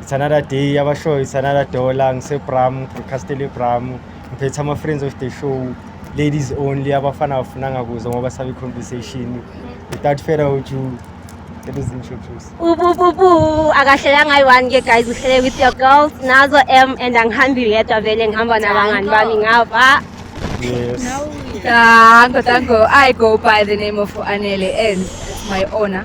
it's another day yabashoyo it's another dollar ngisebram broadcastele bram ngiphethe ama-friends of the show ladies only abafana abafunanga kuzo ngoba sabe i-conversation without further ado let us introduce ubububu akahlelanga ayi-one ke guys uhlele with your girls nazo m and angihambi yedwa vele ngihamba nabangani bami ngapha yes Tango, tango. I go by the name of Anele and it's my honor.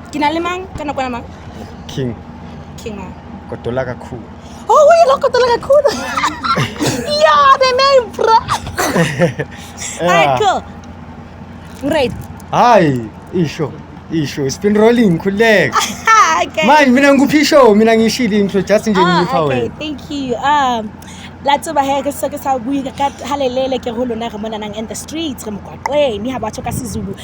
Ke na le mang ka nakwana mang? King. King mang? Kotola kakhulu. Oh, we lo kotola kakhulu. yeah, the name bro. yeah. Alright, cool. Great. Hi, isho. Isho, it's been rolling khuleka. okay. Manje mina ngikuphi isho, mina ngishilo intro just nje ah, ngipha wena. Okay, thank you. Um la tseba he ke se ke sa bui ka halelele ke ho lona re mona nang in the streets re mokwakweng ha batho ka sizulu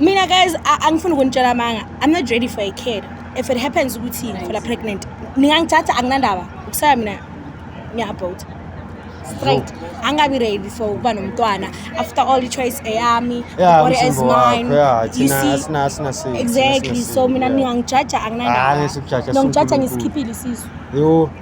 mina guys angifuni ukunitshela amanga i'm not ready for a kid if it happens ukuthi ngifela pregnant ningangithatha anginandaba ukusaya mina ngiyabhota straight angabi ready for ukuba nomntwana after all i-choice eyami body is mine you see exactly so mina ningangijaja anginandaba nongijaja ngisikhiphile isisu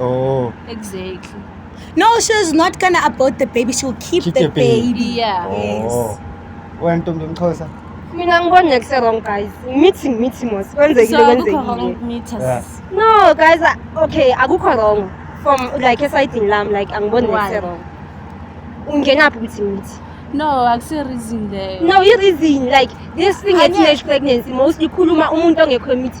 Oh. Exactly. No, she's not gonna abort the baby. She'll keep, Keep the, the baby. baby. Yeah. Oh. Wena ntombi mxhosa. mina ngibona ngeke se-wrong guys ngithi ngithi mos kwenzekile So akukho kwenzekile wrong meter. Yeah. no guys I- okay akukho wrong from like esayidini lami like angiboni Why? ngeke se-wrong ungenaphi ukuthi ngithi No, akusi reason leyo. no i-reason like this thing Anya- ye-teenage pregnancy mostly ikhuluma umuntu ongekho emithi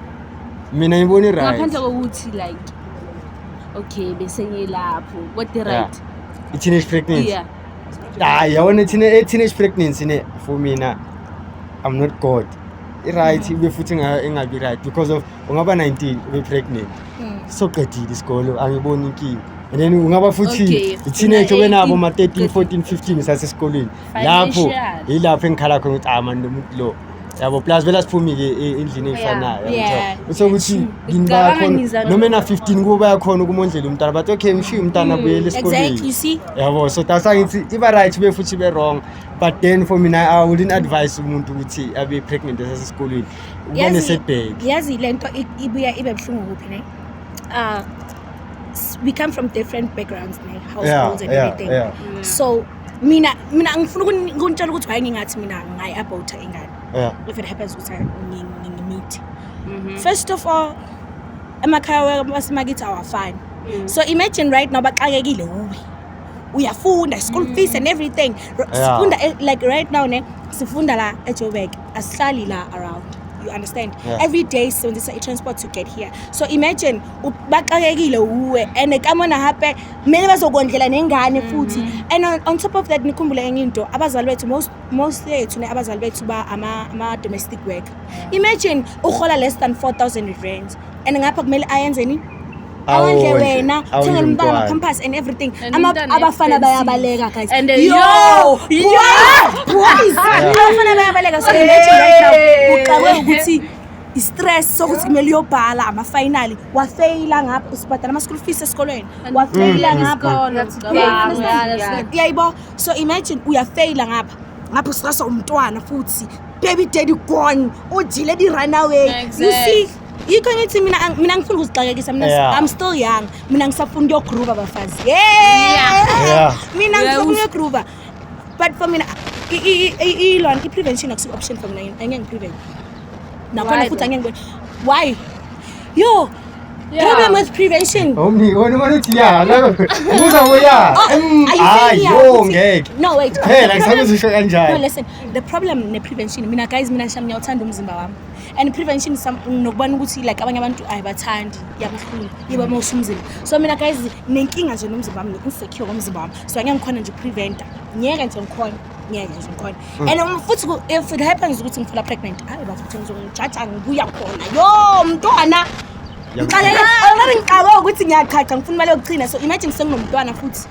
mina ngibona i-right ngaphandle kokuthi like okay bese ngilapho what the right yeah. i-teenage pregnancy yeah hayi yabona i-teenage pregnancy ne for mina i'm not god i-right mm. ibe futhi ingabi right because of ungaba 19 ube pregnant mm. soqedile isikolo angiboni inkinga and then ungaba futhi i-teenage obenabo ma-13 14 15 sasesikolweni lapho yilapho engikhala khona ukuthi ah manje umuntu lo yabo plus vele asiphumi-ke endlini eyifanayo usokuthi yini bayakhona noma ena-fifteen kubo bayakhona ukumondlela umntana but okay ngishiye umntana mm, abuyele esikoleni yabo so dasa ngithi iba-right be futhi be-wrong but then for mina i wouldn't advise umuntu ukuthi abe pregnant esasesikolweni ubone setbheki yazi le nto ibuya ibe buhlungu kuphi ne uh, we come from different backgrounds, like households yeah, and yeah, everything. Yeah. Mm. So mina mina ngifuna ukunitshela ukuthi why ngingathi mina ngayi abort ingane yeah. if it happens ukuthi ngimeet mhm. first of all emakhaya wasemakithi awafani mm. so imagine right now baxakekile uwe uyafunda school fees and everything sifunda eh, like right now ne sifunda la ejoburg asihlali la around you understand yeah. every day sisebenzisa i-transport to get here so imagine baxakekile wuwe and kamona hape kumele bazokondlela nengane mm-hmm. futhi mm -hmm. and on, on top of that nikhumbule enye into abazali bethu most, most yethu ne abazali bethu ba ama-domestic ama work imagine uhola less than 4000 rands and ngapha kumele ayenzeni awondle Awondle. wena Awondle thengela umntana umntwana. compass and everything And Ama- umntana abafana expensive. bayabaleka guys And then- yo Yo! boys abafana bayabaleka so imagine right now uxakwe ukuthi i-stress sokuthi kumele uyobhala amafinali wafeyila ngapha usibhadala ama-school fees esikolweni wafeyila Mm, ngapha isikole. That's good. Yeah, That's yeah, good. that's good. yayibo so imagine uyafeyila ngapha ngapha usikasa umntwana futhi baby daddy gone ujile di-runaway you see Exact. yikho ngithi mina ang- mina ngifuna ukuzixakekisa mina Yeah. i'm still young mina ngisafuna ukuyogruba abafazi Yeah. Yeah. mina Yeah, ngisafuna us- ukuyogruba but for mina i- i- i- i- ilona i-prevention akusiyo option for mina angeke ngiprevent nakhona Why futhi angeke ngibone why yo Yeah. problem with prevention Omni, wena wena uthi ya, loko. Ubuza ngo ya. Oh, Mm, are you Hayi, saying yeah, yo ukuthi- ngeke. no wait Phela ngisakuzisho no kanjani. listen the problem ne-prevention mina guys mina sham ngiyawuthanda umzimba wami and prevention nokubona ukuthi like abanye abantu ayibathandi yabuhlungu yiba uma usumzimba so mina guys nenkinga nje nomzimba wami nginsecure ngomzimba wami so angeke ngikhona nje upreventa ngeke nje ngikhona ngeke nje ngikhona mm. and um, futhi if it happens ukuthi ngifuna pregnant hayi bathi ukuthi ngizongijaja ngibuya khona yo mntwana ngixalela already ngiqawe ukuthi ngiyachacha ngifuna imali yokuchina so imagine senginomntwana futhi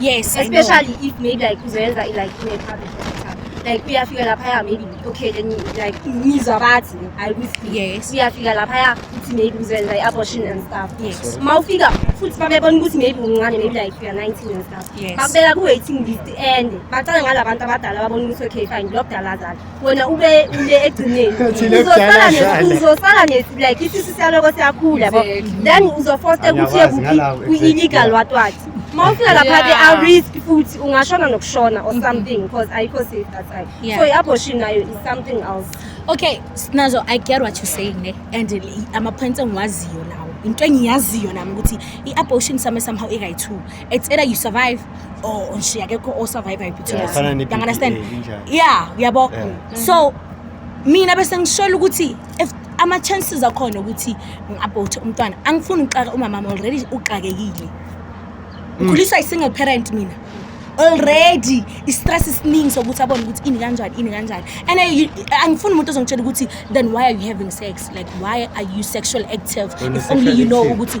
Yes, especially if maybe like uzoyenza like in a public hospital. Like uyafika laphaya maybe okay then like ngizwa bathi I risk. Yes. Uyafika laphaya uthi maybe uzoyenza i-abortion and stuff. Yes. Uma ufika futhi babebona ukuthi maybe uncane maybe like you are 19 and stuff. Yes. Bakubeka ku-waiting list and bacala ngalabantu abadala babona ukuthi okay fine lo kudala azali. wena ube ule egcineni uzosala uzosala ne like isisi saloko siyakhula bo then uzofosta ukuthi yekuphi kwi-illegal what what uma ufika lapha ke a risk futhi ungashona nokushona or something because ayikho safe that time so i-abortion nayo is something else okay sinazo i get what you're saying ne and ama-points engiwaziyo lawo into engiyaziyo nami ukuthi i-abortion same somehow ikayi-two it's either you survive or nje akekho o survive Yeah, ayiphuthuma fana ne-PPA, understand injalo. yeah uyabo Yeah. so mina bese ngishola ukuthi if ama chances akhona ukuthi ngiabort umntwana angifuni ukuxaka umama wami already uxakekile ngikhuliswa i single parent mina already i-stress isiningi sokuthi abone ukuthi ini kanjani ini kanjani and I- you- angifuni umuntu ozongitshela ukuthi then why are you having sex like why are you sexual active Wena if only you sexual know active. ukuthi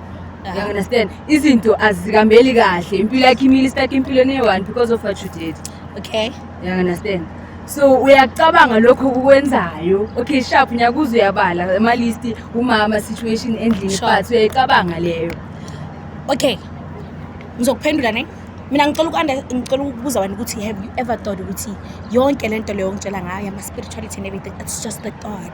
You understand? Izinto azikambeli kahle. Impilo yakhe imile stuck empilweni eyi-one because of what you did. Okay. You understand? So uyacabanga lokho kukwenzayo. Okay, sharp nyakuze uyabala ama list umama situation endlini Sure. but uyayicabanga leyo. Okay. Ngizokuphendula ne. Mina ngicela ukwanda ngicela ukubuza wena ukuthi have you ever thought ukuthi yonke lento leyo ngitshela ngayo ama spirituality and everything it's just a thought.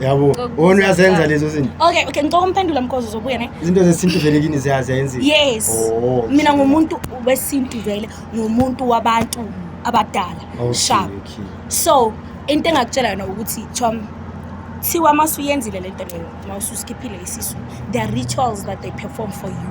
yabo wona uyazenza lezo zinto okay okay ngicela umphendula mkozo uzobuya ne izinto zesintu vele kini ziyazi ayenzile yes oh, mina ngumuntu wesintu vele ngumuntu wabantu abadala okay, sharp okay. so into engakutshela yona ukuthi chom thiwa uma usuyenzile le nto leyo uma ususikhiphile isisu there are rituals that they perform for you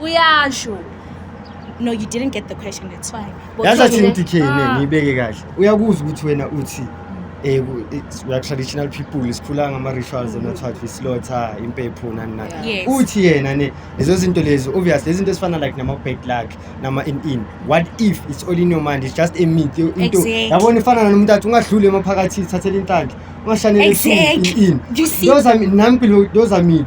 uyasho no you didn't get the question that's fine But yazi athi uthole- ngithi khene Ah, ngiyibeke kahle uyakuzwa ukuthi wena uthi eh, ku- it's- we are traditional people sikhula ngama-rituals and that's what we slaughter impepho nani nani Yeah. Yes. uthi yena ne lezo zinto lezo obvious lezinto ezifana like nama-bad luck nama-in-in what if it's all in your mind it's just a myth yo- into Exactly. yabona ifana nanomuntu athi ungadluli emaphakathi thathela inhlanhla ungashanele Exactly. in You see? those are mi- nami phela those are myth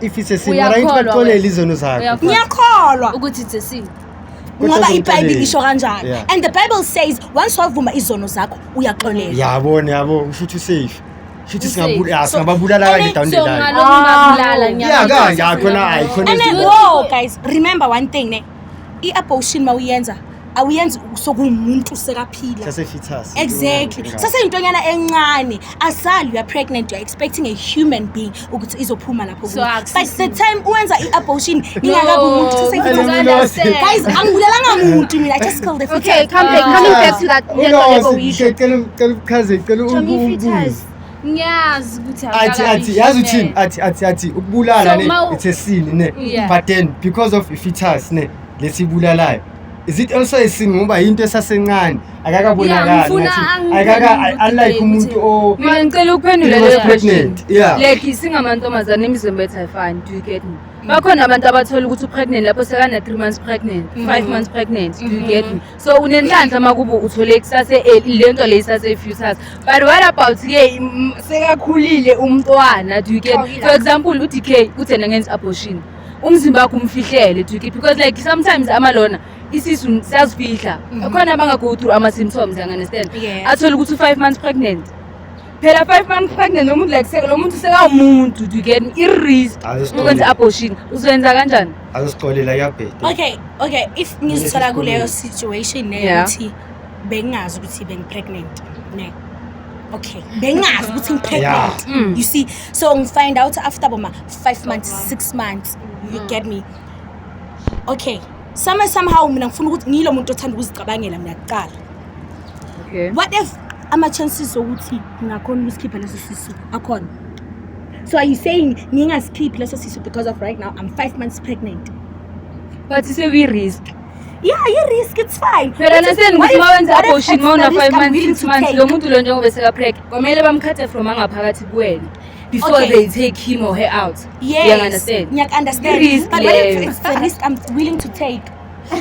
if it's a sin Uyakholwa right baxolele wena. izono zakho Uyakholwa. ngiyakholwa ukuthi it's a sin Kodwa ngoba uzomxolela. ibhayibhile isho kanjalo Yeah. and the bible says once wavuma izono zakho uyaxolela yabona yabo usho ukuthi usafe usho ukuthi Usafe. singabu- ah, So- singababulala kanje and- down the so line ngalokho Ah. ngabulala ya ngiyabona. kanje akhona ayi khona And then, izinto- whoa, guys, remember one thing, ne? I-abortion uma uyenza awuyenzi sokuwumuntu sekaphila sasefetus exactly saseyintonyana encane asali you are pregnant you are expecting a human being ukuthi izophuma lapho so, by the time uwenza i-abortion ingakabi umuntu saseyfetusguys angibulalanga muntu mina just call the fetus okay come back coming back to that yento lebo yisho cela uchaze cela ubuze ngiyazi ukuthi athi athi yazi uthini athi athi athi ukubulala ne it's a sin ne but then because of ifetus ne lesibulalayo is it also a sin ngoba yinto esasencane akakabonakali akaka unlike umuntu o mina ngicela ukuphendula leyo question like singamantombazane imizimba ethu ayifani do you get me bakhona abantu abathola ukuthi upregnant lapho sekana-three months pregnant five mm-hmm. months pregnant do you get me mm-hmm. so unenhlanhla makubo uthole kusase eh, le nto le isase-futures but what about ke sekakhulile umntwana do you get for example u-d k uthi ena ngenza abortion umzimba wakho umfihlele do you get because like sometimes amalona isisu siyazifihla mhm. khona abanga-go through ama-symptoms yangandestand athole ukuthi u-five months pregnant phela five months pregnant nomuntu like seke lo muntu sekawumuntu do you get me i-risk ukwenza abortion uzoyenza kanjani azisicolela kuyabheda okay okay if ngizithola kuleyo situation leyo ukuthi bengingazi ukuthi bengipregnant ne okay bengingazi ukuthi ngipregnant mm. you see so ngifind out after boma five months six months you mm. get me okay some somehow mina ngifuna ukuthi ngiyilo muntu othanda ukuzicabangela mina kuqala okay what if ama-chances okuthi ngingakhona ukusikhipha leso sisu akhona so are you saying ngingasikhiphi leso sisu because of right now i'm five months pregnant but sekuyi-risk yeah yi-risk it's fine phela What if- naseni what ukuthi if- uma wenza what if abortion it's uma the una-five risk I'm months willing six to months take? lo muntu lo njengoba sekapreg kwamele bamkhathe from angaphakathi kuwena before Okay. they take him or her out Yes, Uyangi-understand? ngiyaku-understand. I-risk But what if leyo. it's the risk I'm willing to take?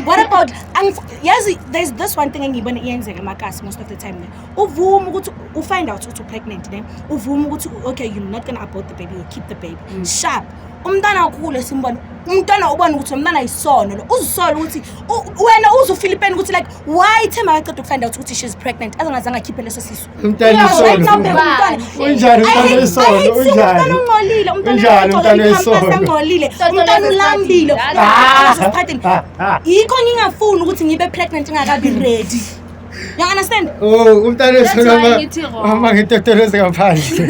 what about angif- yazi there's this one thing engiyibona iyenzeka emakasi most of the time ne uvuma ukuthi u find out ukuthi u-pregnant ne uvuma ukuthi u- okay you're not gonna abort the baby you keep the baby Mm. sharp umntana ukhulu esimbona umntana ubona ukuthi umntana yisono lo uzisola ukuthi u- wena uze ufilipeni ukuthi like why themba kaqeda ukufind out ukuthi she's pregnant azangazange akhiphe leso sisu Umntana isono. Unjani umntana isono? Unjani? Ungcolile umntana. Unjani umntana isono? Ungcolile. Umntana ulambile. Ah. Sikhathini. Ah, ah. Yikho ngingafuni ukuthi ngibe pregnant ngakabi ready. You understand? Oh, umntana isono. Mama ngitotolose ngaphandle.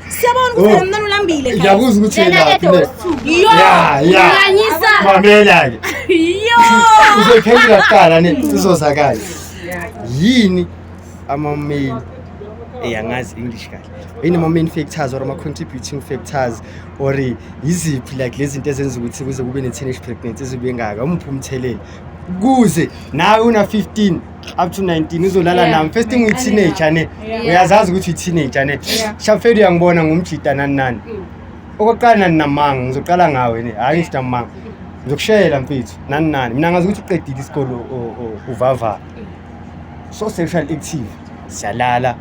Siyabona ukuthi oh. mntwana ulambile. Ngiyakuzwa ukuthi yena laphi. Yo. Ya, ya. Nganyisa. Mamela ke. Yo. Uzophendula kuqala ne sizozakala. Yini ama main eyangazi eh, English kahle. Yini ama main factors or ama contributing factors or yiziphi like lezi zinto ezenza ukuthi kuze kube ne teenage pregnancy izibe ngaka umphumthelela. Kuze nawe una 15 up to 19 uzolala Yeah. nami first thing uyi-teenager ne Yeah. uyazazi ukuthi uyi-teenager ne Yeah. shafeli uyangibona ngumjita nani nani Mm. okokuqala nani namanga ngizoqala ngawe ne hhayi ngithi namanga ngizokushayela mfethu nani nani mina ngazi ukuthi uqedile isikole o- o- o- uvavara so sexual active siyalala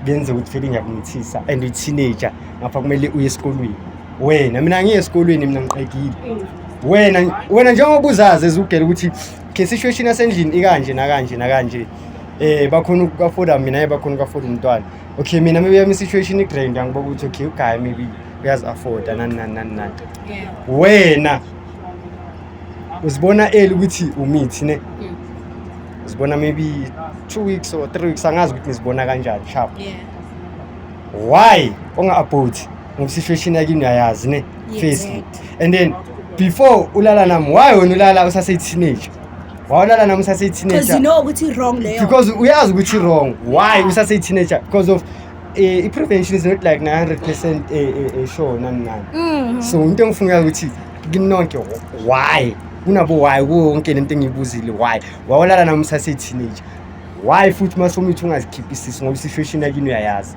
benze ukuthi feli ngiyakumithisa and uyi-teenager ngapha kumele uye esikolweni wena mina ngiye esikolweni mina ngiqedile Mm. wena wena njengoba uzazi ezugela ukuthi ke situation yasendlini ikanje nakanje nakanje eh bakhona ukukafoda mina ye bakhona ukukafoda umntwana okay mina maybe yami situation igrand angiboka ukuthi okay uguy maybe uyazi afforda nani nani nani nani wena uzibona eli ukuthi umithi ne mm. uzibona maybe 2 weeks or 3 weeks angazi ukuthi ngizibona kanjani sharp why unga-abhoti ngoba situation yakini uyayazi ne firstly and then before ulala nami why wena ulala usase teenager wawulala nami usase teenager because you know ukuthi wrong leyo because uyazi ukuthi wrong why usase teenager because of eh, i-prevention is not like 900 percent eh, eh, eh, sure nani nani mm. so into engifunga ukuthi kinonke why kunabo why kuwo wonke le nto engiyibuzile why wawulala nami usase-teenager why futhi uma somithi ungazikhiphi isisi ngoba i-situation yakini uyayazi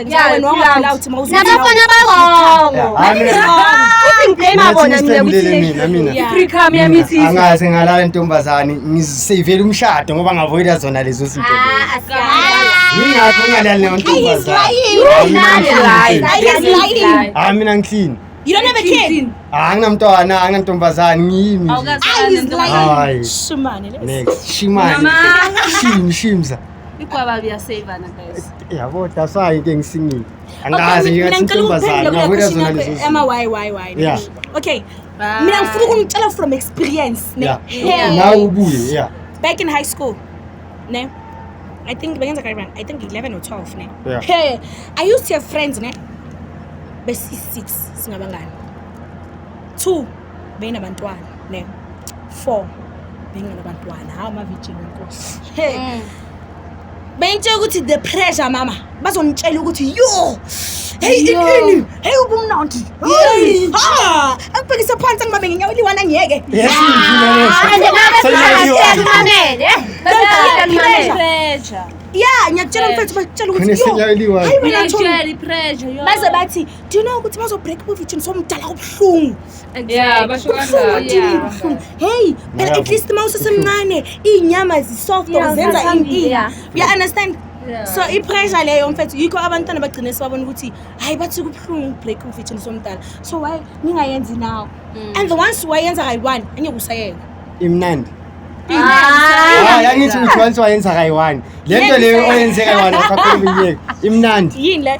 nabafana barongo angaze ngalala ntombazane ngiseyivele umshado ngoba ngavoyida zona lezo zinto yingakho ngalali leyo ntombazane mina ngihlini You don't have a kid. Anginamntwana, anginantombazane, ngiyimi. Awukazi. Hayi. Shimane. Next. Shimane. Mama. Shim, shimza. Igwaba liyasavana guys. Yabo that's why into engisingile. Angazi nje ngathi intombazana ngabuya zona lezi. Ama why why why. Yeah. Okay. Mina ngifuna ukunitshela from experience ne. Yeah. Now ubuye yeah. Back in high school. Ne. I think bengenza kanjani? I think 11 or 12 ne. Yeah. Hey, I used to have friends ne. Besi 6 singabangani. 2 beyinabantwana ne four bengenabantwana hawu amavijini nkosi hey mm. bengitshela ukuthi the pressure mama bazongitshela ukuthi yo heyi inini heyi ubumnandi heyi ha angibhekise phansi angibabe ngenyawo eliwana ngiyeke ya ngiyakutshela mfethu bakutshela ukuthi yo hayi wena baze bathi do you know ukuthi bazobreak ubuvitshini somdala ubuhlungu Yeah, basho ubuhlungu kanjalo. udini Yeah. ubuhlungu hey phela Ngiyabo. at least uma usesemncane iy'nyama zisoft Yeah, or zenza ziyathambi, inkinga yeah. you understand Yeah. so i-pressure leyo mfethu yikho abantwana bagcine sebabona ukuthi hhayi bathi kubuhlungu ukubreak ubuvitshini somdala so why ningayenzi nawo Mm. and the ones wayenza kayi-one angeke usayeka imnandi Ah. hayi angithi uthi once wayenza kayi-one le nto leyo oyenze kayi-one akhaphela iminyeka imnandi yini le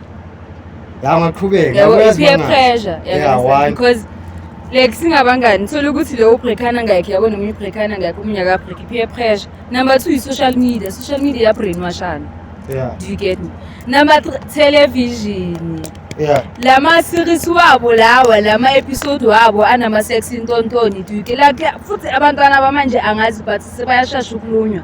ya ngaqhubeka yabo i-peer uyazi pressure Yeah, yabo, why? because like singabangani thola ukuthi lowo ubreakana ngakhe yabo noma ibreakana ngakhe omunye akabreak i-peer pressure number two i-social media social media yabrainwashana yeah do you get me number three television yeah la ma-series wabo lawa la ma-episode wabo anama-sex intontoni do you get like futhi abantwana bamanje angazi but sebayashasha ukulunywa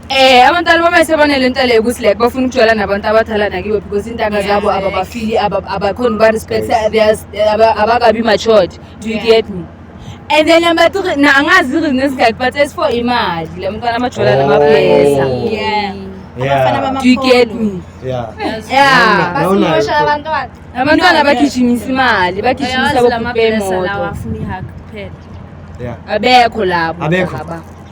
Eh abantwana bama sebanele into leyo ukuthi like bafuna ukujwayela nabantu abadala nakiwe because intanga zabo ababafili abakhona uba respect abakabi matured do you get me and then number three na angazi reason esingaki but as for imali le mntwana amajola namablesa oh. yeah do you get me yeah basimosha abantwana abantwana bagijimisa imali bagijimisa bokupemoto abekho labo abekho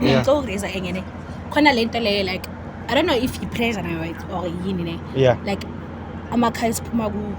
mina ngicela ukuraise enye ne khona le nto leyo like i don't know if yi-pressure nayo right or yini ne yeah like amakhaya esiphuma kuwo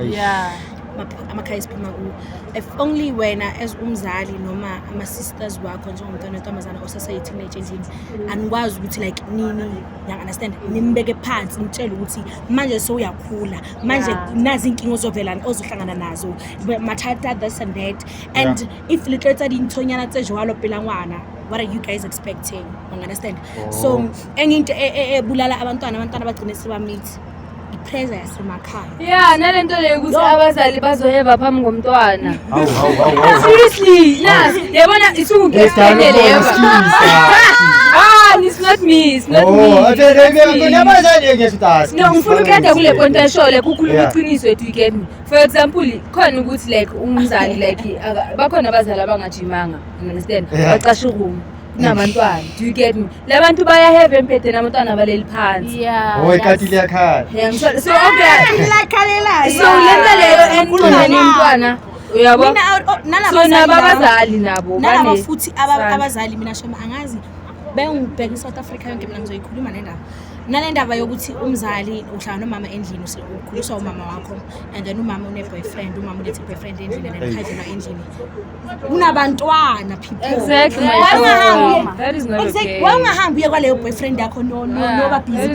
Eish. yeah maph- amakhaya esiphuma kuwo if only wena as umzali noma ama-sisters wakho njengomntwana wentombazana osaseyiteenage endlini anikwazi ukuthi like nini yang-understand nimbeke phansi nitshele ukuthi manje sewuyakhula manje Yeah. nazi inkinga ozovelani ozohlangana nazo mathatha this and that and Yeah. if le tlo etsa dintshonyana tse jwalo pela ngwana what are you guys expecting ungunderstand oh. so enye into e, e, ebulala abantwana abantwana bagcine sebamithi ipressure yasemakhaya ya nale nto leyo ukuthi abazali bazoheva phambi ngomntwana seriously nas yabona isukugesikeneleyo it's not me, it's not oh, me. Oh, okay, okay, okay. Never said you get to ask. No, mfuna ukhetha kule point eshole kukhuluma iqiniso ethu ikemi. for example khona ukuthi like umzali like bakhona abazali abangajimanga understand bacasha ukumu kunabantwana do you get me labantu bayaheva empedeni abantwana baleli phansi owekhati oh, liyakhala so okay so lento leyo and kunani umntwana uyabo so nabo abazali nabo nalabo futhi abazali mina shema angazi bengibheka i-south africa yonke mina ngizoyikhuluma nendaba nale ndaba yokuthi umzali uhlala nomama endlini ukhuliswa umama wakho and then umama une-boyfriend umama ulethe i-boyfriend endlini and ikhajelwa endlini kunabantwana peoplewaungahambi uye kwaleyo boyfriend yakho noba busy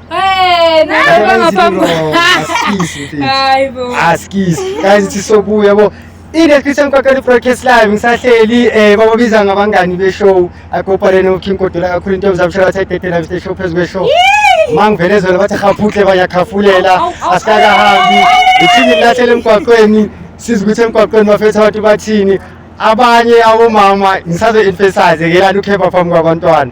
sisobuya yabo i-description kwakhani broadcast live ngisahleli um eh, bababiza ngabangani beshow akoparene uking kodwa kakhulu into yomzamshalathayidedelavishe show phezu kweshow ma ngivele zona bathi khaphutle bayakhafulela asikakahambi ithini lilahlele emgwaqweni sizi ukuthi emgwaqweni bafetha abantu bathini abanye abomama ngisazo-emphasize ke lani ukhepha phambi kwabantwana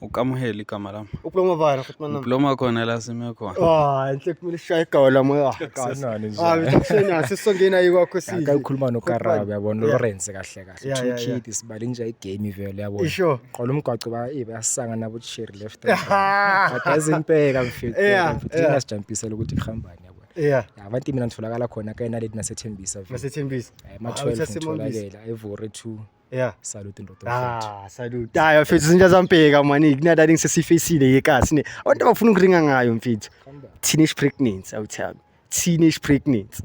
ukamuhela igama lami uploma bani futhi manami uploma khona la sime khona ah inhle kumele shaye igaba lami ah kanani nje ah bekushena sisongena yikwakho sisi akakhuluma nokarabe yabona Lawrence kahle kahle two kid isibali nje igame vele yabona isho qola umgwaco ba eh bayasanga nabo cherry left akaze impeka mfethu mfethu ngasijampisela ukuthi ihambani yeah abantu imina ngitholakala khona ke naledi nasethembisa vele nasethembisa eh, ma-12 ngitholakela evore 2 Yeah. Salute ndoda. Ah, salute. Hayi mfethu izinto zampeka mani kunada lingi sesifacile yekasi ne. Abantu abafuna ukuringa ngayo mfethu. Teenage pregnancy awuthami. Teenage pregnancy.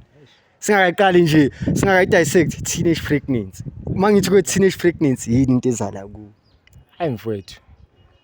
Singakaqali nje, singakayi dissect teenage pregnancy. Uma ngithi kwe teenage pregnancy yini into ezala ku? Hayi mfethu.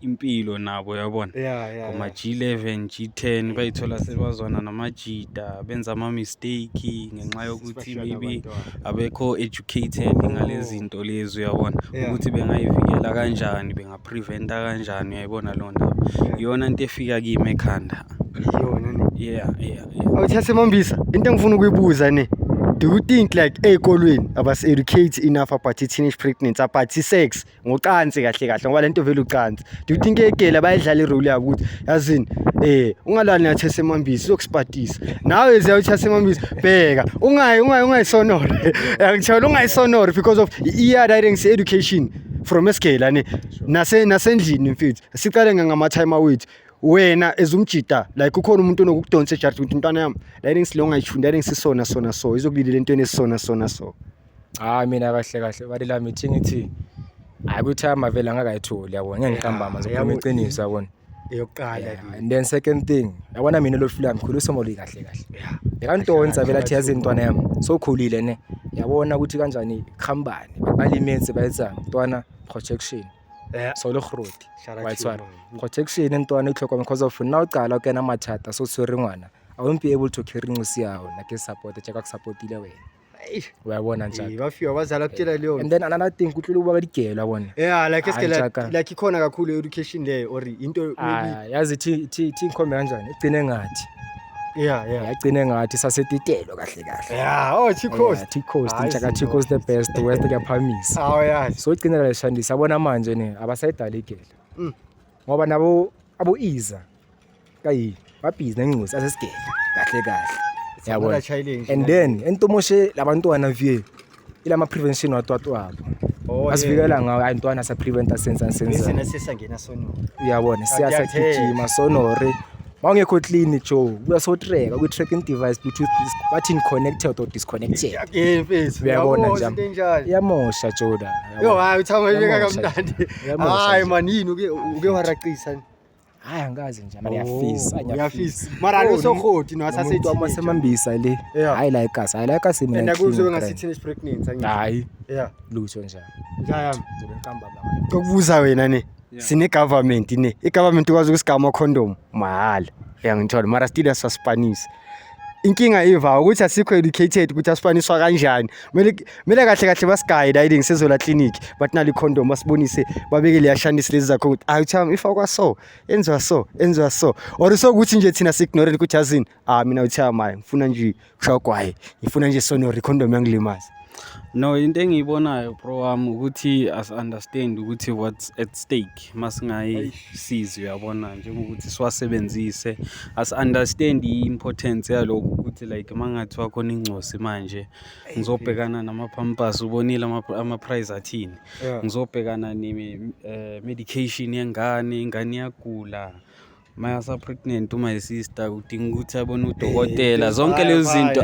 impilo nabo yabona yeah, yeah, ngoma G11 G10 bayithola sebazwana namajita benza ama mistake ngenxa yokuthi maybe abekho educated oh. ngalezinto lezi uyabona ukuthi bengayivikela kanjani bengapreventa kanjani uyayibona lo ndaba iyona into efika kimi ekhanda iyona ne yeah yeah awuthathe mombisa into engifuna ukuyibuza ne do you think like ey'kolweni abasi-educate enough about i-teenage pregnancy about i-sex ngocansi kahle kahle ngoba lento vele ucansi do you think egela bayidlala irole yabo ukuthi yazini eh ungalani nathi semambisi sokusipatisa nawe ziya uthi semambisi bheka ungayi ungayi ungayisonora ngithola ungayisonora because of i-ear writing education from esigela ne nase nasendlini mfethu siqale ngama time awethu wena ezumjita like kukhona umuntu onokukudonsa ejardi ukuthi mntwana yami la eningisilonga yishuni la eningisisona sona so izokulile lentweni esisona sona so, so. hayi mina kahle kahle bali lami ithi ngithi hayi kuthi amavele angakayitholi yabona ngeke ngihambama ngizokhuluma yabo- iqiniso yabona eyokuqala Yeah, le. and then second thing yabona mina lo fila mkhulu somoli kahle kahle Yeah. bekantoni vele athi yazi ntwana yami sokhulile ne yabona ukuthi kanjani khambani balimetse bayetsa ntwana protection Eh, so le groti Shout out wa to tshwara you, man. protection e ntwana itlhokomela because of nna o qala o kena mathata so tshwere ngwana i won't be able to carry ngose yao na ke support jaaka ke supportile wena wa bona ntjaka ba fiwa ba zala kutshela leyo and then another thing kutlula ukuba badigelo yabona yeah like eske like ikhona kakhulu education leyo or into maybe ah, yazi thi thi thi ngikhombe kanjani igcine ngathi yeah yeah yagcine ngathi sasetitelo kahle kahle yeah oh Chicos yeah, Chicos ntshaka Chicos the best west kuyaphamisa oh yeah so igcine la shandisa abona manje ne abasayidaligela mm. ngoba nabo abo iza kayi babhizi nengquza asesigele kahle kahle yabona and then entomoshe labantwana vie ilama prevention watwatwabo oh, asivikela ngawo hayi ntwana sa preventa senza senza uyabona siyasagijima sonore mawungekho clean jo kuyasotreka kwi-tracking device bluetooth bathini connected or disconnected uyabona nja iyamosha joda yo hayi uthama ibeka kamnandi hayi manini uke uke waraqisa hayi angikaze nje mara ngiyafisa ngiyafisa mara lo sokhoti no asasethi uma semambisa le hayi la ekhasi hayi la ekhasi mina and kuzobe ngasithini is pregnant angithi hayi yeah lutho nje njaya ngizobe ngikamba baba ukubuza wena ne sine government ne i government kwazi ukusigama condom mahala uyangithola mara still asasipanisa inkinga iva ukuthi asikho educated ukuthi asifaniswa kanjani kumele kumele kahle kahle basigayide ayide ngisezola clinic but nali condom basibonise babeke leya shandis lezi zakho ukuthi ayi utham ifakwa so enziwa so enziwa so or so ukuthi nje thina si ignore ukuthi azini ah mina utham hayi ngifuna nje kushawgwaye ngifuna nje sonori condom yangilimaza No, into engiyibonayo bro wami ukuthi asi-understand ukuthi what's at stake uma singayisizi uyabona njengokuthi siwasebenzise asi-understand i-importance yalokhu ukuthi like uma ngathi wakhona ingcosi manje ngizobhekana nama-pampers ubonile ama-price athini ngizobhekana ne-medication eh, yengane ingane iyagula Maya sa pregnant uma isister kudinga ukuthi abone udokotela zonke lezo zinto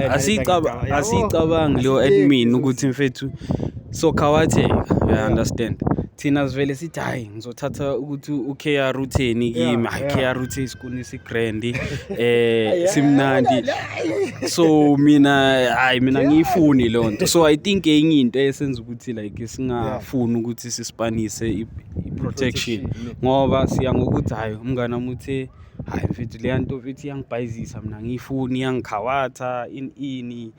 asiyicabangi leyo admin ukuthi mfethu so khawatheka you understand thina sivele sithi hayi ngizothatha ukuthi u-kr utheni kimi hayi kr uthe isikuni sigrandi um simnandi so mina hayi mina ngiyifuni leyo nto so i think enye into esenza ukuthi like singafuni ukuthi sisipanise protection ngoba siya ngokuthi hhayi umngane wami uthe hhayi mfethu leya nto mfethu iyangibhayizisa mina angiyifuni iyangikhawatha ini ini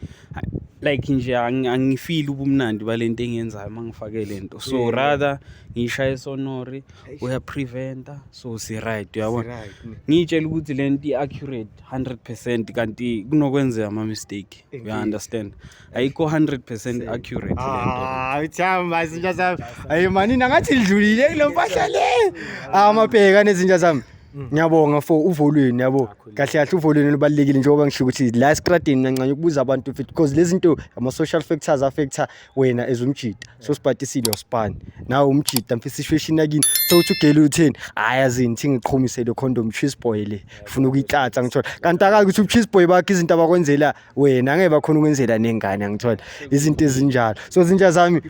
like nje angifili ubumnandi bale nto engiyenzayo uma ngifake le nto so rather ngiyishaye sonori uyapreventa so si-right uyabona ngiyitshela ukuthi le nto i-accurate hundred percent kanti kunokwenzeka ama-mistake uya-understand ayikho 100% accurate ah uthamba izinja zami ayi manini angathi lidlulile kule mpahla le ah mabheka nezinja zami mm. ngiyabonga for uvolweni yabo kahle kahle uvolweni lubalekile njengoba ngisho ukuthi la estradini nancane ukubuza abantu fit because lezi zinto ama social factors affecta wena as umjita so sibhatisile uspan nawe umjita mfisa ishweshini yakini so uthi ugele utheni hayi azini thi ngiqhumisele condom cheese boy le ufuna ukuyitlatha ngithola kanti akazi ukuthi ucheese boy bakhe izinto abakwenzela wena ngeke bakhona ukwenzela nengane angithola izinto ezinjalo so zinja zami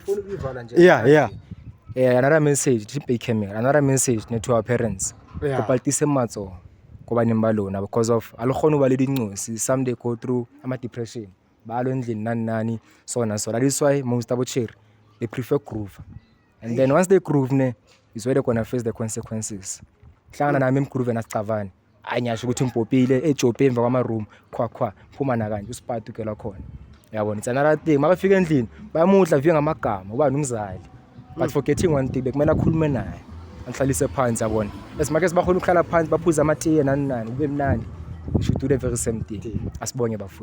yeah yeah Eh, another message to pay camera another message ne to our parents Yeah. kopa litise matso ko baneng ba lona because of a le kgone ho ba le dincosi some they go through ama depression ba lo endlini nani nani so na so that is why most abo chere they prefer groove and then once they groove ne is where they gonna face the consequences hlangana nami emgroove nasicavane hayi ngiyasho ukuthi ngibhobhile ejobhe emva kwamaroom khwakhwa phuma nakanje usipati ukelwa khona yabona it's another thing makafika endlini bayamudla viye ngamagama ubani umzali but mm. forgetting one thing bekumele akhulume naye anihlalise phansi yabona as much as bakhona ukuhlala phansi baphuze amatiye nani nani kube mnandi we should do the very same thing asibonge bafo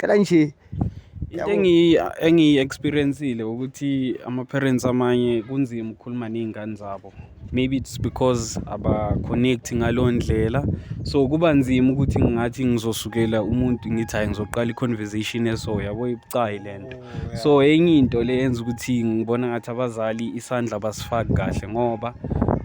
cela nje into engiyi-experiencile ukuthi ama-parents amanye kunzima ukukhuluma ney'ngane zabo maybe it's because aba-connect ngaleyo ndlela so kuba nzima ukuthi ngingathi ngizosukela umuntu ngithi hhayi ngizoqala i-conversation eso yabo ibucayi le nto so enye into le yenza ukuthi ngibona ngathi abazali isandla basifaki kahle ngoba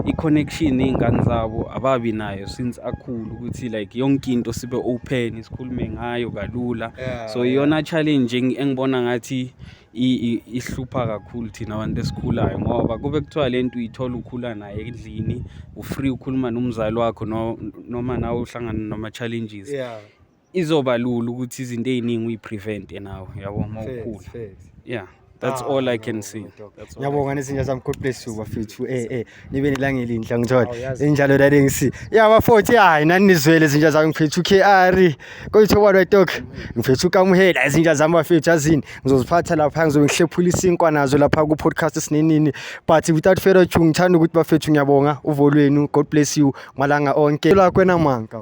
i-connection ney'ngane zabo ababi nayo since akhulu ukuthi like yonke into sibe open sikhulume ngayo kalula so iyona challenge engibona ngathi ihlupha kakhulu thina abantu esikhulayo ngoba kube kuthiwa le nto uyithola ukhula naye endlini ufree ukhuluma nomzali wakho noma nawe uhlangana nama-challenges izoba lula ukuthi izinto ey'ningi uyi-prevent-e nawe yabo uma ukhula yeah that's ah, all i can see ngiyabonga nezinja zami god bless you bafethu eh eh nibe nelanga elinhle ngithola oh, injalo dade ngisi ya bafowethu hayi nani nizwele izinja zami ngifethu kr koyitho kwalo itok ngifethu kamuhela izinja zami bafethu azini ngizoziphatha lapha ngizobe ngihlephula isinkwa nazo lapha ku podcast sinenini but without further ado ngithanda ukuthi bafethu ngiyabonga uvolweni god bless you malanga onke la kwena manka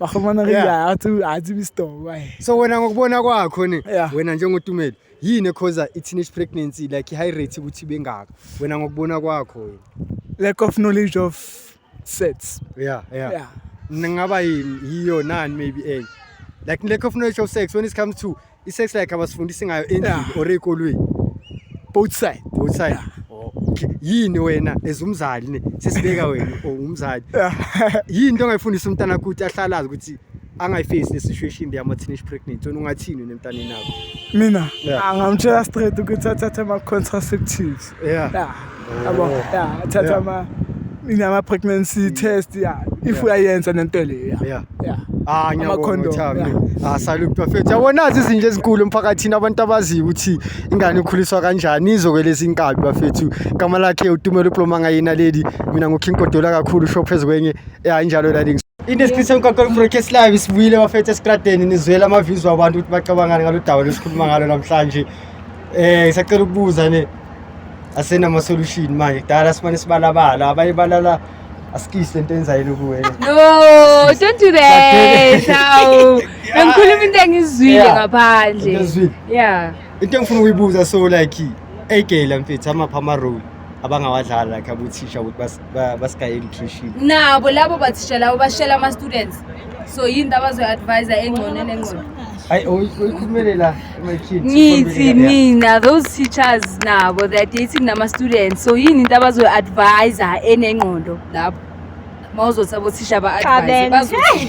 bakhulumana ke Yeah. yeah. athi athi istobo ayi so wena ngokubona kwakho ne Yeah. wena njengotumelo yini ekhoza i-teenage pregnancy like i-high rate ukuthi bengaka wena ngokubona kwakho wena lack of knowledge of sets yeah yeah, yeah ngaba yini yiyo nani maybe enye like lack of knowledge of sex when it comes to I-sex like abasifundisi ngayo endlini Yeah. or ekolweni. both side Both side. Yeah. Oh, okay. Yini wena as umzali ne sesibeka wena or umzali. Yini into ongayifundisa umntana wakho ukuthi ahlalazi ukuthi angayifesi le situation le ama teenage pregnancy wena ungathini wena emntaneni wakho. mina Yeah. angamtshela straight ukuthi athathe ama-contraceptives yeah yeah yabo Oh. yeah thatha Yeah. ama inama pregnancy test yeah if Yeah. uyayenza nento le yeah yeah yeah Ah Ama ngiyabonga condom, uThami. yeah. Ah salute bafethu. Yabo nazi izinto ezinkulu emphakathini abantu abaziyo ukuthi ingane ikhuliswa kanjani izokweleza inkabi bafethu. Igama lakhe uTumelo Ploma ngayina lady. Mina ngoKing Kodola kakhulu show phezu kwenye. Yeah injalo la links. In the description kwaKol Broadcast Live sibuyile bafethu esikradeni nizwela ama views wabantu ukuthi bacabangani ngalo daba lesikhuluma ngalo namhlanje. Eh ngisacela ukubuza ne asena ama solution manje kudala simane sibalabala abanye balala asikise into enzayile kuwe. No, don't do that. Awu. Angikhuluma into engizwile Yeah. ngaphandle. Into ozwile? Yeah. Into engifuna ukuyibuza so like a girl mfethu amapha ama role abangawadlala like abuthisha ukuthi bas ba- basikaye nutrition nabo labo bathisha labo bashela ama-students so yini into abazoyi-advisa engcono nengcono hayi uyikhulumele la emakhini ngithi mina those teachers nabo they are dating nama-students so yini into abazoyi-advisa enengqondo lapho ma uzothi abothisha ba-advise Cabenzi. bazothi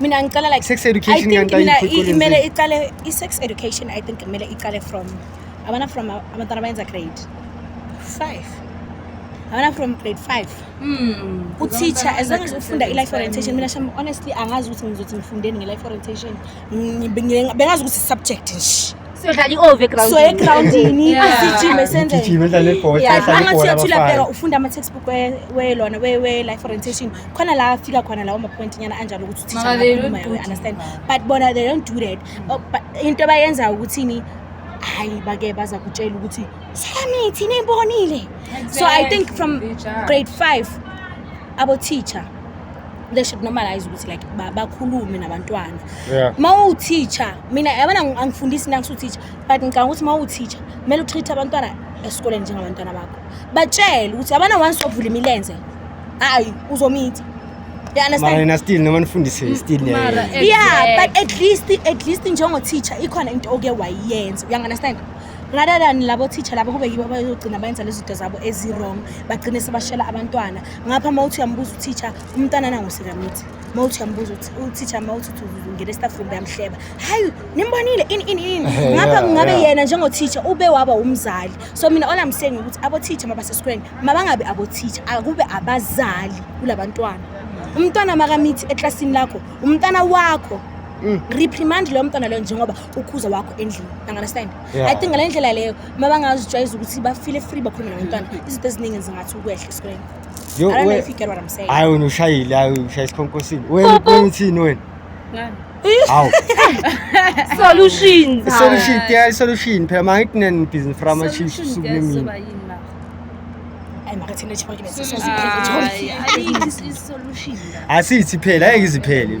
mina ngicela like sex education I think mina imele iqale i-sex education i think imele iqale from abana from abantwana bayenza grade five abana from grade five hmm. uteacher as long as ufunda i-life orientation mina sham honestly angazi ukuthi ngizothi'ngifundeni nge-life orientation bengazi ukuthi i-subject nje siyodlala i-ove so egroundini Yeah. asijime senze Gijima edlala ibhola, Yeah, edlala angathi ibhola uyathula abafana. phela ufunda ama-textbook we- welona we- we-life orientation khona la afika khona lawo mapoint nyana anjalo ukuthi uthisha Mama, they angakhuluma, don't do we it. understand but bona they don't do that Oh, but into abayenzayo ukuthini hayi bake baza kutshela ukuthi sami thina imbonile so i think from grade five abo-teacher they should normalize ukuthi like bakhulume nabantwana yeah. ma uteacher mina yabona angifundisi mina ngisuteacher but ngicabanga ukuthi ma uteacher kumele utreat abantwana esikoleni njengabantwana bakho batshele ukuthi abana once wavula imilenze hayi uzomitha yena still noma nifundise mm, still yeah but at least at least njengo teacher ikhona into oke wayenza uyangunderstand rather than labo teacher labo kube yibo abayogcina bayenza lezi zinto zabo ezi-wrong bagcine sebashela abantwana ngapha uma uthi uyambuza uteacher umntana nangosekamithi uma uthi uyambuza uteacher uma uthi ungena estaff room yamhleba hayi nimbonile ini ini ini eh, ngapha kungabe yena njengoteacher ube waba umzali so mina all i'm saying ukuthi aboteacher mabasesikoleni mabangabi aboteacher akube abazali kula bantwana umntwana makamithi eklasini lakho umntwana wakho mm. reprimand loyo mntwana loyo njengoba ukhuza wakho endlini understand yeah. i think ngale ndlela leyo uma bangazijwayeza ukuthi bafile free bakhulume nabantwana mm. izinto eziningi zingathi ukwehla esikoleni hayi wena ushayile hayi ushaya isikhonkosini wena uthini wena hawu solution solution yeah solution phela mangithi nani business from a chief sukunimini asithi phela ayike iziphele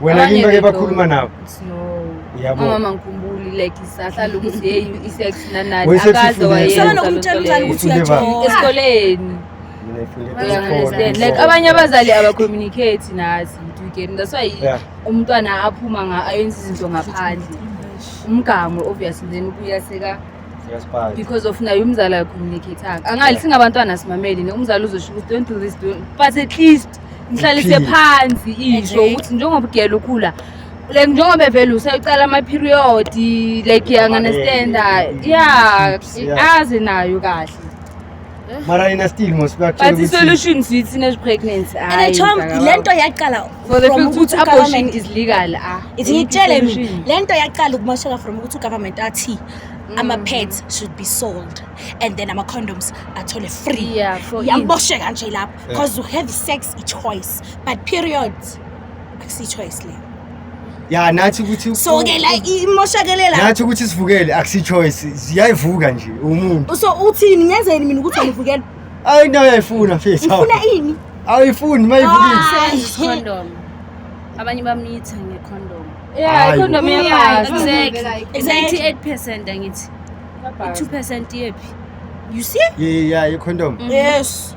Wena yini bake bakhuluma nawe? Yabo. Mama ngikhumbuli like isahlala ukuthi hey isex nanani akaze wayenza. Sana nokumtshela umntana ukuthi uyajola esikoleni. Like abanye abazali abacommunicate nathi you get that's why umntwana aphuma nga ayenza izinto ngaphandle. Umgamo obviously then ubuya seka because of naye umzali ayacommunicate-anga angali singabantwana simameli ne umzali uzosho ukuthi don't do this don't but at least ngihlalise phansi isho ukuthi njengoba udiyela ukhula like njengoba vele usayicala ama-period like yanganestenda ya azi nayo kahle mara yena still but isolution sithi ne-pregnancy le nto yaqala ukuthi abortion is legal ah ithi ngitshele mina le nto yaqala ukumosheka from ukuthi ugovernment athi Mm. ama-pads should be sold and then ama-condoms athole free yambosheka nje lapho because you have sex i-choice but period akusiyi-choice leyo ya nathi ukuthi so ke la imoshakelela nathi ukuthi sivukele akusiyi-choice ziyayivuka nje umuntu so uthini ngenzeni mina ukuthi angivukele ayi into uyayifuna fesi ufuna ini awuyifuni uma yivukile abanye bamnitha ngecondom yeah icondom iyakwazi exactly exactly 8 percent angithi 2 percent yephi you see yeah yeah icondom mm-hmm. yes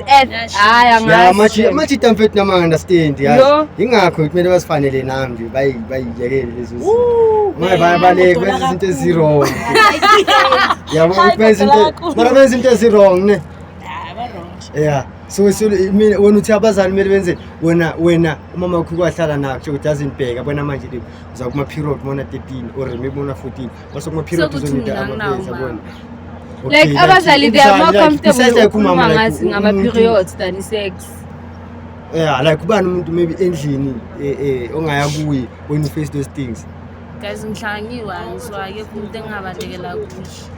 hayi amajita mfethu nama understand yazi ingakho kumele bazifanele nami nje bayi bayiyekele lezo zinto maye bayabaleka benza izinto ezirong yabo ukuthi benza into mara benza into ezirong ne yeah so mina wena uthi abazali kumele benze wena wena umama wakho kwahlala nakho ukuthi azindibheka bona manje uza kuma period mona 13 or maybe mona 14 Basi kuma period so kuthi mina nginawo like abazali they are more comfortable ukukhuluma ngathi ngama mm-hmm. periods than sex yeah like ubani umuntu maybe endlini eh, eh ongaya kuyi when you face those things guys ngihlangiwe angizwa ke umuntu engabalekela kuye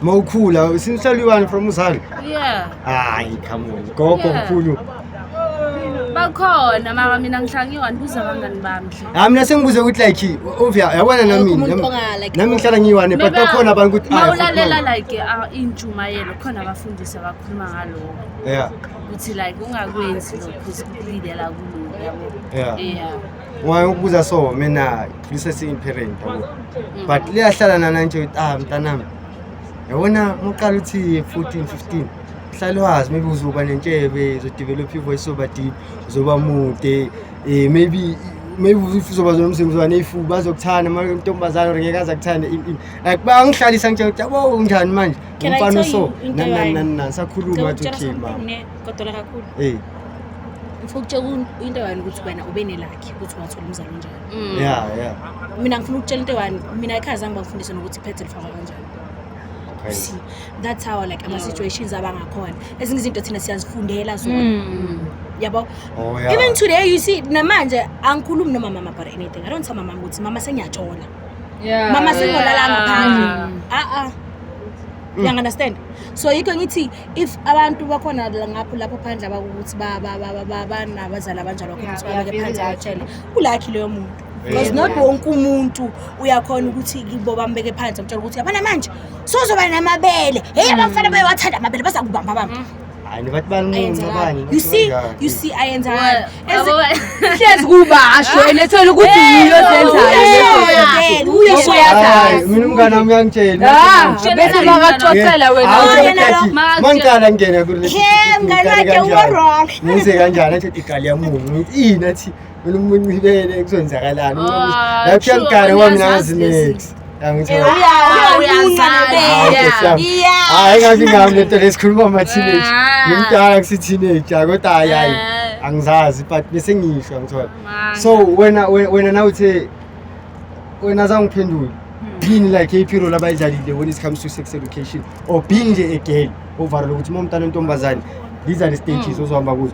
mawukhula since you from uzali yeah hayi come on gogo mkhulu yeah. bakhona maka mina ngihlala ngiyi-one buza abangani bami nje hayi mina sengibuze ukuthi like ovia yabona nami Akekho umuntu nami- onga- like- nami ngihlala ngiyi-one but Mina- bakhona abantu ukuthi ma ah, ulalela fuck like ah, intshumayelo khona abafundisi abakhuluma ngaloko no. yeah ukuthi like ungakwenzi lokhu zikulindela kulungu yabo Yeah. yeah waye ukubuza so mina ngisesiyi-parent yabo Mm. but liyahlala nananje ukuthi ah mntanami yabona muqala uthi 14 15 hlale wazi maybe uzoba nentshebe uzodevelop ivoice soba deep uzoba mude um maybe maybe uzoba nomzimba uzoba neyifuba bazokuthanda mantombazane or ngeke aze akuthande like bangihlalisa ngitshela ukuthi yabo unjani manje umfana oso nanananani sakhuluma athi okay mama kodwa kakhulu eh ngifuna ukutshela into yani ukuthi wena ube nelakhe ukuthi wathola umzali onjani mm. yeah yeah mina ngifuna ukutshela into yani mina ekhaya zange bangifundise nokuthi iphethe lifakwa kanjani You see, that's how like ama situations abangakhona ezinye izinto thina siyazifundela zona yabo Oh yeah. even today you see namanje angikhulumi nomama mama about anything i don't tell mama ukuthi mama sengiyajola Yeah. mama sengolala ngaphandle a-a Mm. yang understand so yikho ngithi if abantu bakhona la- ngapho lapho phandle abakukuthi ba- ba- ba- ba- ba- banabazali abanjalo khona Yeah, ukuthi babeke yeah, phansi very batshele ulakhi loyo muntu because not wonke umuntu uyakhona ukuthi kibo bambeke phansi amtshela ukuthi yabona manje sozoba namabele heyi mm. abafana bayowathanda amabele baza kubamba bamba mm. hayi bathi banquma abanye you see you see ayenza hlezi kubasho elethela ukuthi yiyo zenzayo uyesho yazazi mina umngane wami uyangitshela ah, bese bakaxoxela wena mangicala ngingena kule mngane wakhe uwrong ngize kanjani athi igali yamungu ini athi Mina umuntu uyibele kuzoyenzakalani. Ah, Lapha sure, ngigare wami uyazazi nangazi lezi. next. Angithola. Uya- Uyazi. uyazazi. Hayi, Yeah. Nkosi yami. Yeah. Hayi ngathi ngami lento lesikhuluma ama teenage. Ah. Ngimdala kusi teenager kodwa hayi hayi. Eh. Angizazi but bese ngisho angithola. Man. So wena we- wena na uthe wena zangiphendula. Yini like iphiro labayidlalile when it comes to sex education or being nje a girl ovara lokuthi uma umntana ontombazane these are the stages ozohamba kuzo.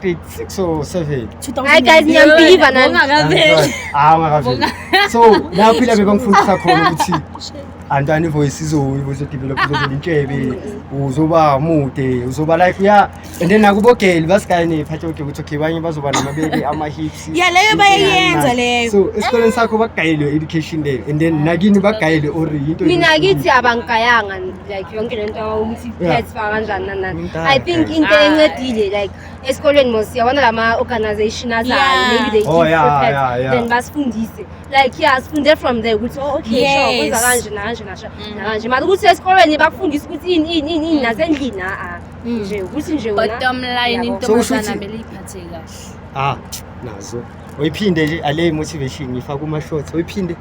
grade 6 or 7 Hayi guys niyambiva nani. hawu ngakaveli so lapho ila bebangifundisa khona ukuthi antani voice izoyibo izodevelop izovela intshebe uzoba mude uzoba like uya and then nakubogeli basikaye nephathe okay ukuthi okay banye bazoba namabele ama-hips Ya leyo bayayenza leyo. so esikoleni sakho bagayelwe education leyo and then nakini bagayelwe or yinto Mina kithi abangigayanga like yonke le nto ukuthi pets fa kanjani nani nani Umdala, i think guys. into encedile like esikolweni mos siyabona la ma-organization azayo Yeah. maybe they Oh, give yeah, free pets yeah, yeah. then basifundise like yeah sifunde from there ukuthi oh okay sure Yes. kwenza kanje nakanje nasha Mhm. nakanje mara ukuthi esikolweni bakufundise ukuthi ini ini ini ini nasendlini a-a Mm. nje ukuthi nje wena bottom line Yabo. So usho intombazana ukuthi- mele iphathe kahle ah nazo uyiphinde nje ale motivation ngifaka kuma shorts uyiphinde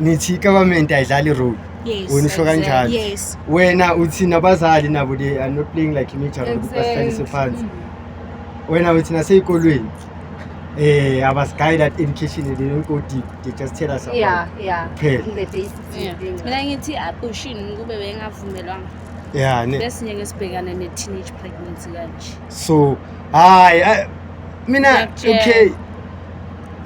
nithi government ayidlali role Yes. wena usho kanjalo Yes. wena uthi nabazali nabo they are not playing like imidlalo ukuthi basihlalise phansi wena uthi nasey'kolweni eh abasiguy that education they don't go deep they just tell us about Yeah, yeah. Phela. The basics Yeah. thing. mina ngithi abortion kube bengavumelwanga yeah ne bese ngeke sibhekane ne-teenage pregnancy kanje so hayi ah, mina Ngiyakutshela. okay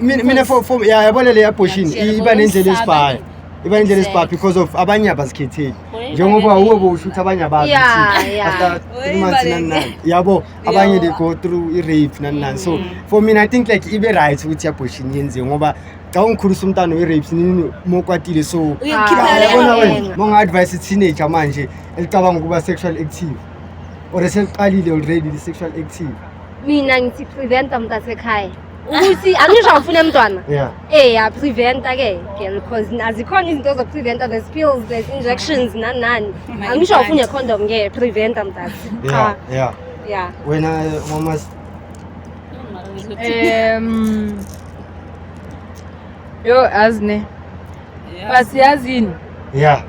mina mina for for ya yabona le abortion Ngiyakutshela, iba nendlela ngokwesaba esibaya ke. iba nendlela esibaya Exactly. because of abanye abazikhetheli Ngoyibale njengoba ke. uwe bowushutha abanye abazi Yeah, ukuthi yeah. after three months Ngoyibale nani nani yabo abanye Yeah. they go through i-rape nani nani so for mina i think like ibe right ukuthi i-abortion yenziwe ngoba xa ungikhulisa umntana we-rapes nini mokwatile so Uyokukhiphela Ah, leyo yabona nto. wena monga-advise i-teenager manje elicabanga ukuba sexual active or eseliqalile already li-sexual active mina ngithi preventa mntasekhaya ukuthi angisho awufune mntwana yeah eh yapreventa ke girl because azikhona izinto zokupreventa there's pills there's injections nani nani angisho awufune condom ke preventa mntazi yeah Cha, yeah yeah wena mama um yo azi ne Basi yazini. Yeah.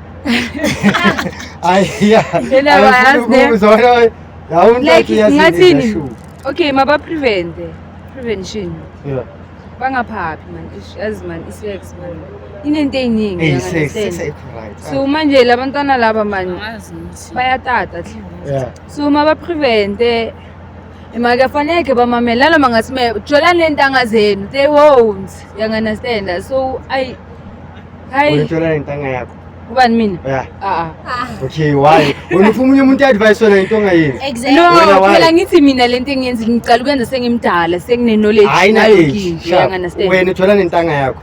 Ay yeah. Yena bayazi ne. Uzona yawuntathu yazini. Ngathini? Okay, maba prevent. Prevention. Yeah. Bangaphaphi man. Yazi man isex man. Inento eyiningi. Hey, sex, sex right. So manje labantwana laba man bayatata. Yeah. So maba prevent. Imake faneke bamamela noma ngathi me jola lentanga zenu they won't you understand so I hayi Ujola lentanga yakho. Ubani mina? Yeah. Ah. ah. Okay, why? Wena ufuna umunye umuntu advice wena into ongayenzi. Exactly. No, phela ngithi mina lento engiyenza ngiqala ukwenza sengimdala, sengine knowledge nayo ngisho. Wena uthola nentanga yakho.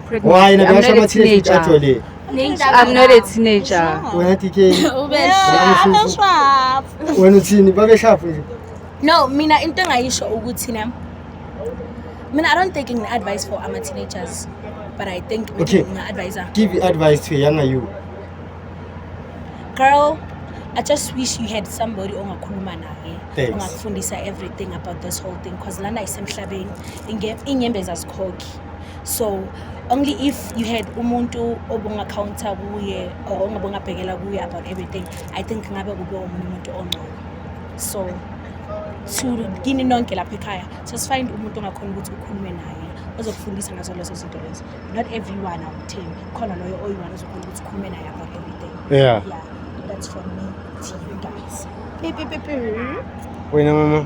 Why na ba sa matshile tsa tsole. I'm not a teenager. Wena TK. Ube sharp. Wena uthini babe sharp nje. No, mina into engayisho ukuthi na mina I don't take any advice for ama teenagers but I think okay. my advisor. Give advice to a younger you. Girl, I just wish you had somebody ongakhuluma naye Thanks. ongakufundisa everything about this whole thing because lana isemhlabeni inge- inyembezi azikhokhi so only if you had umuntu obungacounter kuye or ongabungabhekela kuye about everything i think ngabe kube omunye umuntu ongcono so to kini nonke lapha ekhaya just find umuntu ongakhona ukuthi ukhulume naye ozokufundisa ngazo lezo zinto lezo not everyone awumthembi khona loyo oyiwani ozokhona ukuthi ukhulume naye about everything yeah. yeah that's from me to you guys wena mama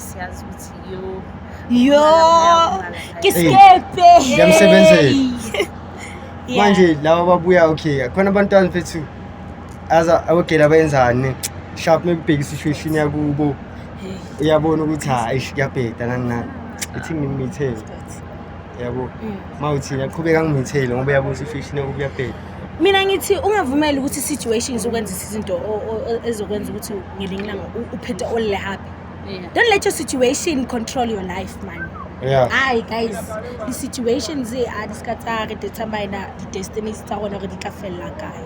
siyazi ukuthi yo yo kiskepe ngiyamsebenzela manje laba babuya okay khona abantwana bethu aza abogela bayenzani sharp mebheka situation yakubo uyabona ukuthi hayi kuyabheda nani nani ithi ngimithele yabo mm. mawuthi yaqhubeka ngimithele ngoba yabuza situation yakubo kuyabheda mina ngithi ungavumeli ukuthi situations ukwenza izinto ezokwenza ukuthi ngelinye ilanga uphethe olele happy Yeah. Don't let your situation control your life, man. Yeah. Aye guys, the situation ze a di ska tsa re te tsamaina di destinies tsa rona re di tla fella kae.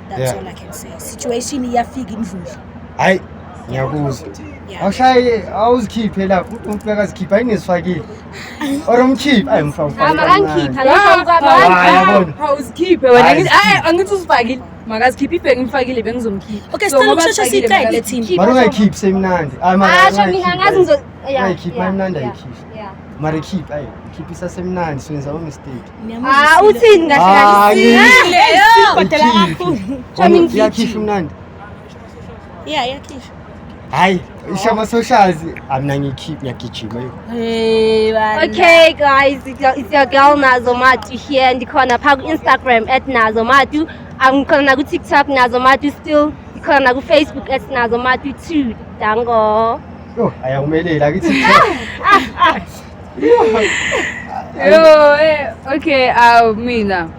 That's Yeah. all I can say. Situation ya fika indlule. Hayi ngiyakuzwa. Yeah. Awushaye awuzikhiphe lapho umuntu akazikhipha ayinezifakile. Or umkhiphe ayi mfana. Ama angikhipha lapha kwabanye. Hayi yabona. Awuzikhiphe wena. Hayi, Angithi- Angithi uzifakile. makazikhiphe ibheki ngifakile bengizomkhipha okay sicela ukushesha sicele thina mara ungayikhiphi semnandi hayi mara asho mina ngazi ngizo ungayikhiphi mara mnandi ayikhiphi mara ikhiphi ayi ikhiphi isasemnandi senza u mistake ah uthini kahle kahle kodela kakhulu sho mina ikhiphi mnandi Yeah, yakhishwa. Hayi, isho ama socials amna ngikhiphi ngiyagijima yo. Hey bana. Okay guys, it's your, it's your girl Nazo Matu here ndikhona pha ku Instagram @nazo matu. Angikhona na ku TikTok Nazo Matu still. Ndikhona na ku Facebook @nazo matu too. Dango. Yo, ayakumelela akithi. Yo, eh, okay, uh, mina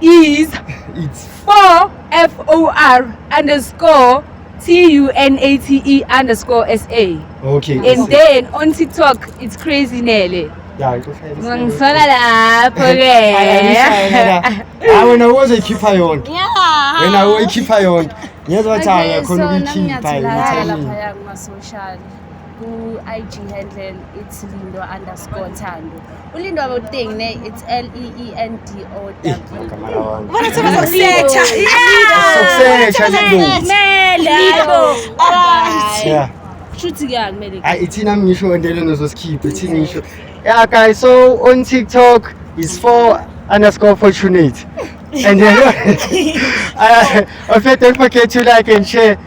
is it's 4 f o r underscore t u n a t e underscore s a okay and then on tiktok it's crazy nele ya ngisola lapho ke hayi wena uzoyikhipha yonke wena uyikhipha yonke ngiyezwa ukuthi hayi khona ukuyikhipha yonke ku-ig handle it's lindo underscore thando ulindo aboteng ne it's l e e n d o w Ubona thaba zokusetha. Sokusetha, Lindo. Mele. Alright. Yeah. Shuthi ke akumele. Ay, ithina ngisho endele nozosikhipa ithina ngisho yeah guys so on tiktok is for underscore fortunate and then uh, also don't forget to like and share